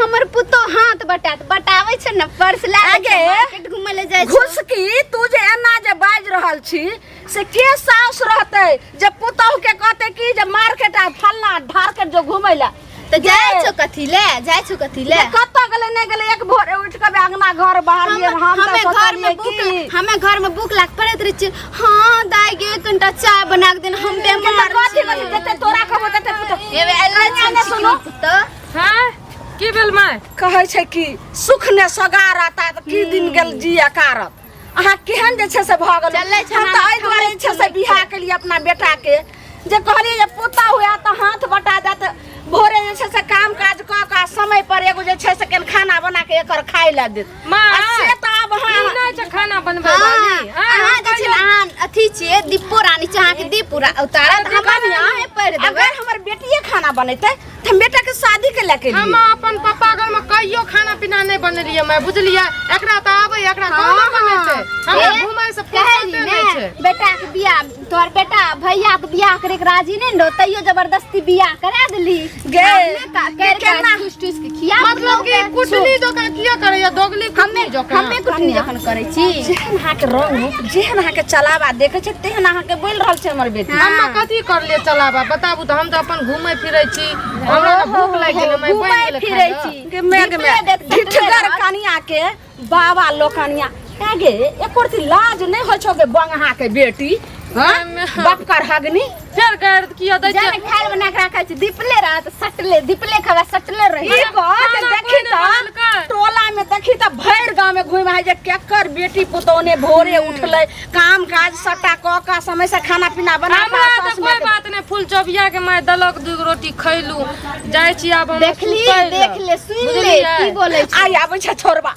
हमर पुतो हाथ बटात बटावे छै न पर्स ला आगे। मार्केट घूमे ले जाय छै घुसकी तू जे एना जे बाज रहल छी से के सास रहते जे पुतोह के कहते कि जे मार्केट आ फलना ढारकेट जो घुमै ला त जाय छो कथी ले जाय छो कथी ले कत गेले नहीं गेले एक भोर उठ के बे अंगना घर बाहर लिए हम हम हमें तो घर में सोचलिए भूख कि हमें घर में भूख लाग पड़त रही छै हां दाई गे कनटा चाय बना के देन हम ते मार कथी कथी देते तोरा खबर देते पुतोह एबे अल्लाह ने सुनो। सुनो तो हैं की भेल माय कहै छै कि सुख ने सगार आता तऽ की दिन गेल जिया कारत अहाँ केहन जे छै से भऽ गेल चलै छै हम तऽ एहि दुआरे जे छै से बियाह केलिए अपना बेटाके जे कहलिए जे पोता हुआ तऽ हाथ बटा जात भोरे जे छै से काम काज कऽ कऽ समय पर एगो जे छै से कनि खाना बना के एकर खाय लए देत माँ आ से तऽ आब ई अहाँ नहि छै खाना बनबै वाली हैं? अहाँ जे छै ने अहाँ अथी छियै दीपो रानी छै अहाँके दीप उरा- उतारत अरे हमरा दीपो रानी। अहाँ पढ़ि देबै अगर हमर बेटिए खाना बनेतै त हम बेटा के शादी के लेके हम लिए अपन पापा घर में कहियो खाना पीना नहीं बनेलिए मैं बुझलिए एकरा तो आवे एकरा हाँ, कहाँ बनेते हाँ। हमरा ए, घूमे से कहे फुर्सते ली नहीं ने छे बेटा के बियाह तोहर बेटा भैया के बियाह करे के राजी नहीं रहो तैयो जबरदस्ती बियाह करा देली गे, हमने का गे, कर केना? कर ठूस ठूस के खिया मतलब कि कुटनी जकाँ किया करैया दोगली कुटनी जकाँ हमे कुछ नहीं जखन करै छी जेहन हाथ रंग रूप जेहन अहाँके चलाबा देखै छै तेहन अहाँके बोलि रहल छै हमर बेटी हम कथी कर ले चलाबा बताबू तऽ हम तऽ अपन घूमै फिरै छी हमरा तऽ भूख लागि गेल मैं घूमै बनि गेल फिरै छी के मेघ मे ढिठगर कनिया के बाबा लोकनिया आगे एक रती लाज नहि होइ छौ के बंगहा के बेटी हाँ? बपकर हगनी फेर गाड़ किया दै जाने खाए बना के रखा छै दीपले रहा त सटले दीपले खावा सटले रही ई बात देखी त टोला में देखी त भर गांव में घुम है जे केकर बेटी पुतौने भोरे हम्म। उठले काम काज सटा क का समय से खाना पीना बना हमरा त कोई बात नै फूल चबिया के मैं दलक दू रोटी खैलू जाय छी आब हम देख ले देख ले सुन ले की बोले छी आई आबै छ छोरबा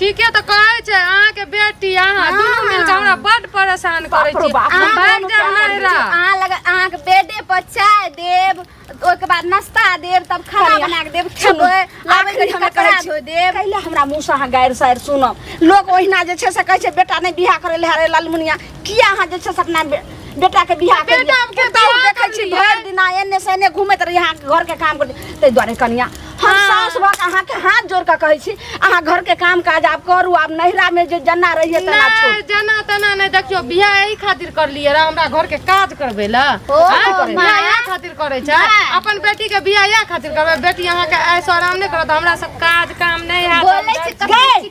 ठीके तऽ कहै छै अहाँके बेटी अहाँ दुनू मिल कऽ हमरा बड परेशान करै छी हम भागि जायब नैहरा अहाँ लग अहाँके बेडे पर चाय देब ओहिके बाद नाश्ता देब तब खाना बना के देब खेबै आबै घड़ी हमरा कपड़ा धो देब कैले हमरा मुंह से अहाँ गारि सारि सुनब लोग ओहिना जे छै से कहै छै बेटा नहि बियाह करे ले हरे लालमुनिया किया अहाँ जे छै से अपना बे- बेटाके बियाह केलियै? बेटा हम केतौ पुतहु बियाह देखै छी केलियै। भरि दिना एने से एने घुमैत रही अहाँके घरके काम करते ताहि दुआरे कनिया हम हाँ। सास भऽ कऽ अहाँके हाथ जोड़ कऽ कहै छी अहाँ घरके काम काज आब करू आब नैहरामे जे जना रहियै तेना नहि छोड़ू जना तना नहि देखियो बियाह एहि खातिर करलियै रह हमरा घर के काज करबै ला ओ, आँय? माँ। बियाह इएह खातिर करै छै माँ। अपन बेटी के बियाह इएह खातिर करबै बेटी अहाँ के ऐसो आराम नहि करत हमरा सब काज काम नहि हैत बोलै छी, हम- कथी गै,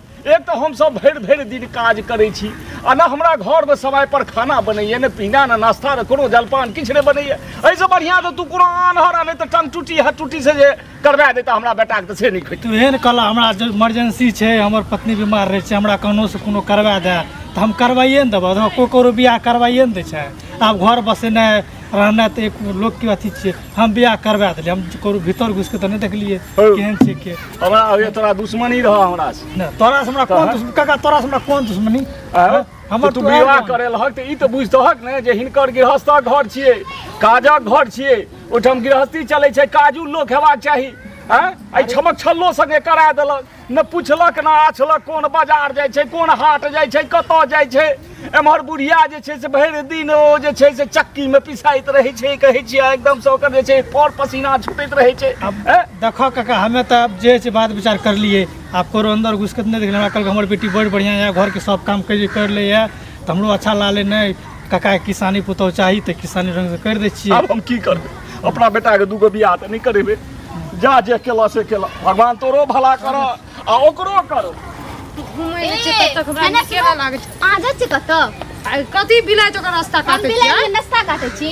एक तऽ हमसभ भरि भरि दिन काज करै छी आ ने हमरा घरमे समयपर खाना बनैए ने पीना ने नाश्ता ने कोनो जलपान किछु नहि बनैए एहिसँ बढ़िआँ तऽ तू कोनो आन्हर आ नहि तऽ टंग टूटी हर टूटीसँ जे करबा देता हमरा बेटाके तऽ से नहि खैतै तू एहन कला हमरा इमरजेंसी छै हमर पत्नी बीमार रहै छै हमरा कहुनोसँ कोनो करबा दए तऽ हम करबाइए ने देबह कोइ ककरो बियाह करबाइए ने दै छै आब घर बसेनाइ रहनाइ तऽ एक लोकके अथी छियै हम बियाह करबा देलियै हम ककरो भीतर घुसि कऽ तऽ नहि देखलियै हौ। केहन छै के हमरा होइए तोरा दुश्मनी रहऽ हमरा से नहि तोरा से हमरा कोन तहन? दुश्मनी काका तोरा से हमरा कोन दुश्मनी आँय? हमर तू तू आयल विवाह रहन। करे लहक तऽ ई तऽ बुझतहक ने जे हिनकर गृहस्थक घर छियै काजक घर छियै ओहिठाम गृहस्थी चलै छै काजू लोक हेबाक चाही आँय एहि छमक छल्लो सङ्गे करा देलक ने पुछलक ने आछलक कोन बाजार जाइ छै कोन हाट जाइ छै कतऽ जाइ छै एम्हर बुढ़िया जे छै से भरि दिन ओ जे छै से चक्कीमे पिसाइत रहै छै कहै छियै एकदमसँ ओकर जे छै पर पसीना छूटैत रहै छै हैं? देखो काका हमे तऽ आब जे छै बात विचार करलियै आब करो अंदर घुसकत नहि देखलियै हमरा कहलक हमर बेटी बड़ बढ़िआँ यऽ घरके सब काम कैली कर ले यऽ तऽ हमरो अच्छा लागलै नहि काका किसानी पुतहु चाही तऽ किसानी रंग से करि दै छियै आब हम की करबै अपना बेटाके दूगो बियाह तऽ नहि करेबै जा जे केलऽ से केलऽ भगवान तोरो भला करऽ आ ओकरो करऽ घुमै ले छै तब तक हमरा नीके लागै छै अहाँ जाइ छी कतऽ कथी बिलाइ जकर रास्ता हम काटै बिलाइ छियै नाश्ता काटै छी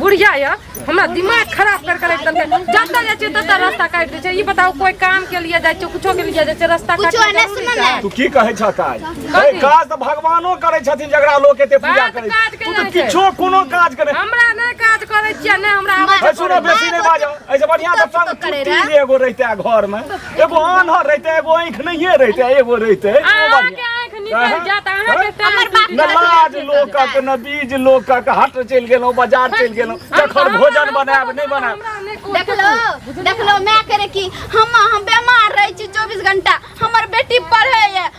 बुढ़िया या हमरा दिमाग खराब कर कर एकदम जतऽ जाइ छै ततऽ रास्ता काटि दै छै ई बताउ कोई काम के लिए जाइ छै कुछो के लिए जाइ छै रास्ता काटि कुछो नहि सुनल है। तू की कहै छ काज कथी? ए, काज तऽ भगवानो करै छथिन जकरा लोक एते पूजा बात करै काज छै। तू केना तऽ छै? किछो कोनो काज करै हमरा नहि काज करै छियै नहि हमरा आबै छै ए, सुनऽ बेसी नहि बाजऽ एहिसँ बढ़ियाँ तऽ तब तू संग करे छुट्टी रहे। जे एगो रहिते घर मे एगो आन्हर रहिते एगो आँखि नहिए रहिते एगो रहिते एगो अहाँ बढ़िया। के आँख निकल जात अहाँ के टाइम हमर बात न लाज लोकक न बीज लोकक हट चलि गेलहुँ बाजार चलि गेलहुँ जखन भोजन बनायब नहि बनायब देखलो देखलो माय करे कि हम हम बीमार रहे छी 24 घंटा हमर बेटी पढ़े ये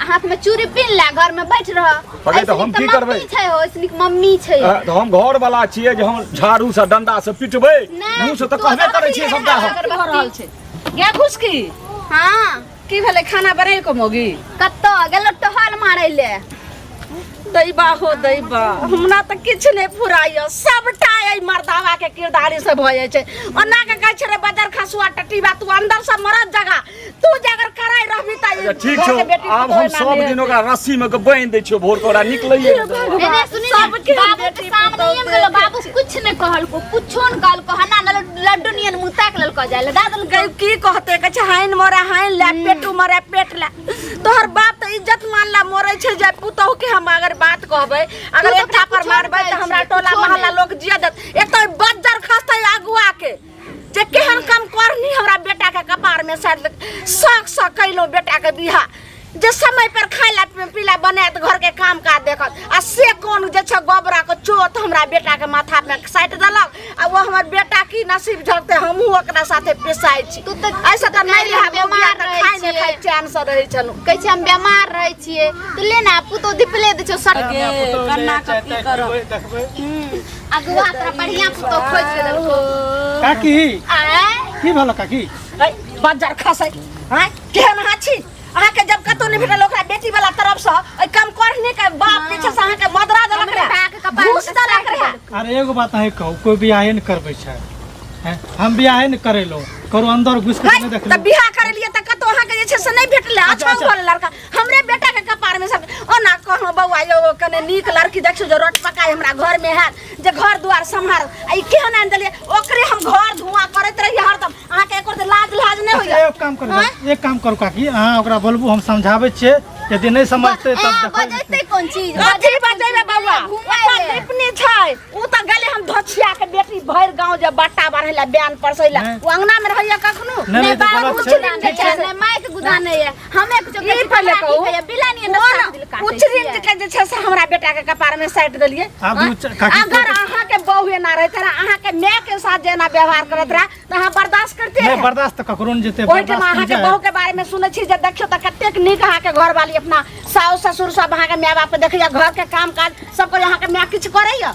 आ हाथ में चूड़ी पीन ला घर में बैठ रह अरे तो हम की करबै? छै हो ऐसनी के मम्मी छै अ, तऽ हम घर वाला छियै जे हम झाड़ू से डंडा से पिटबै नहि, मुँह से तऽ तू कहबे अगर करै छियै अभी सबटा हम अगर भऽ रहल छै या घुस की हां की भेलै खाना बनेल को मोगी कत्तो गेलो टहल मारै ले दैबा हो दैबा हमरा तऽ किछु नहि फुराइयो सबटा एहि मर्दावा के किरदारी से भऽ जाइ छै ओना के कहै छै रे बदर खसुआ टटीबा तू अंदर से मरद जगह तू जे अगर कराय रहबी त अच्छा, ठीक छौ आब हम सब दिन ओकरा रस्सी में के बांध दै छियो भोर के ओकरा निकलैए ने दे। एने सुनी ना, बाबू के सामने ही हम गेलो बाबू कुछ नहीं कहल को कुछो नहीं कहल को हना न लड्डू नियन मुंह ताक लल को जाले दादल गई की कहते कछ हाइन मोरा हाइन ला पेटू मोरा पेट ला तोहर बाप त इज्जत मान ला मोरे छै जे पुतहु के हम अगर बात कहबै अगर तू एक तो थापर कुछो मारबै त नहीं हमरा कहै छी, टोला कुछो मोहल्ला नहीं। लोग जिया देत एतय बज्जर खसतै आगुआ के जे केहन काम करनी हमरा बेटा के कपार में साथ सक सक कैलो बेटा के बिहा जे समय पर खाइला पीला बनात घर के काम का देखत आ से कौन जे छ गोबरा के चोत हमरा बेटा के माथा में साट देलक आ वो हमर बेटा की नसीब झकते हमहू ओकरा साथे पेशाई छी तू तऽ ऐसा तऽ नहि रहा बेमार बेमार रहै खाइ नहि छियै। खाइ चैन से रहै छनु कहै छै हम बेमार रहै छियै तऽ ले ने पुतौ दिपले दै छौ सट कन्ना कथी करब देखबै अगुआ तोरा बढ़िया पुतो खोज के देलको काकी आय की भेल काकी है बाजार खसै हैं केहन अहाँ छी अहाँ के जब कतौ नहीं भेटल ओकरा बेटी वाला तरफ से ओइ कम करने के बाप पीछे से अहाँ के मदरा देलक हमरा रहे बाक कपार घूस में देलक काटि रहे अरे एगो बात अहीं कहू कोई बियाहे नहि करबै छै हैं? हम बियाहे नहि करेलहुँ करो अंदर घुसि कऽ नहि है, देखलहुँ तऽ बियाह करे लिए तऽ कतौ अहाँ के जे छै से नहि भेटले अच्छा, अच्छा अच्छा। बोल लड़का हमरे बेटा के कपार में सब ओना कहलो बौआ यो कने नीक लड़की देखियो जे रोट पकाय हमरा घर में है जे घर दुआर सम्हार आ ई केहन आन देलिए ओकरे हम घर धुआं करत रहिए हरदम अहाँ के एकर लाज लाज नहीं होइए एक काम करू आँय? एक काम करू काकी अहाँ ओकरा बोलबू हम समझाबै छियै यदि नहि समझतै तब देखल जेतै। बजैते कोन चीज कथी बजेबे बौआ घुमाय ओकर ले। लिपनी छै उ त गेले हम धछिया के बेटी भर गांव जे बट्टा बढ़ैला बयान परसैला नहीं। उ अंगना में रहैया कखनो नहीं, नहीं, तो बाबू गलत कुछ छै। नहीं ठीक छै। छै माय के गुदा नहीं है हमे कुछ ई कथी पहिले पकड़ा कहू। दिए बिला नहीं अंदर काट दिल काट कुछ दिन के जे छै से हमरा बेटा के कपार में साइट देलिए आब उ च- काकी अगर अहाँ के बहू एना रहत रहा अहाँ के माय के साथ जेना व्यवहार करत रहा त अहाँ बर्दाश्त करते नहीं रहे। बर्दाश्त तो ककरो नहीं जेते ओहिठाम बर्दाश्त अहाँ नहीं के जाए बहू के बारे में सुनै छी जे देखियो त कतेक नीक अहाँ के घर वाली अपना साउस ससुर सब अहाँ के माय बाप के देखैया घर के काम काज सब कोई अहाँ के माय किछु करैया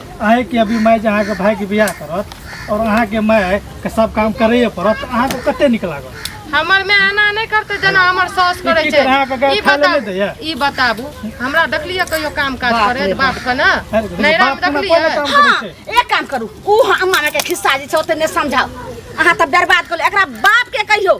अहें के अभी माय जे अहाँ के भाई के बियाह करत और अहाँ के माय के सब काम करैए पड़त अहाँ के कते नीक लागत हमर में आना नहीं करते जना हमर सास करे की छे करा के गए ई खाए ले बता नहीं दैया? ई बताबू हमरा देखलिए कहियो काम काज करे रे बाप के ना अरे देखिए, नैरा बाप में कोना कोना देखलिए काम करै छै एक काम करू ऊ हमारा के खिस्सा जे छै ओते नहि समझाउ अहाँ तऽ बर्बाद करू एकरा बाप के कहियो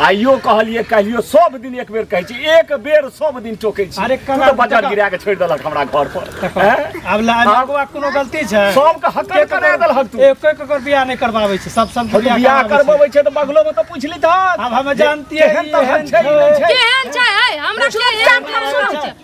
आइयो कहलिए कहियो सब दिन एक बेर कहै छी एक बेर सब दिन टोकै छी अरे कना बजट गिरा के छोड़ देलक हमरा घर पर अब लागवा कोनो गलती छै सब के हक करा देलक तू एक एक कर बियाह नै करबाबै छै सब सब बियाह करबाबै छै त बगलो में त पूछली त अब हम जानती है केहन छै केहन छै हमरा के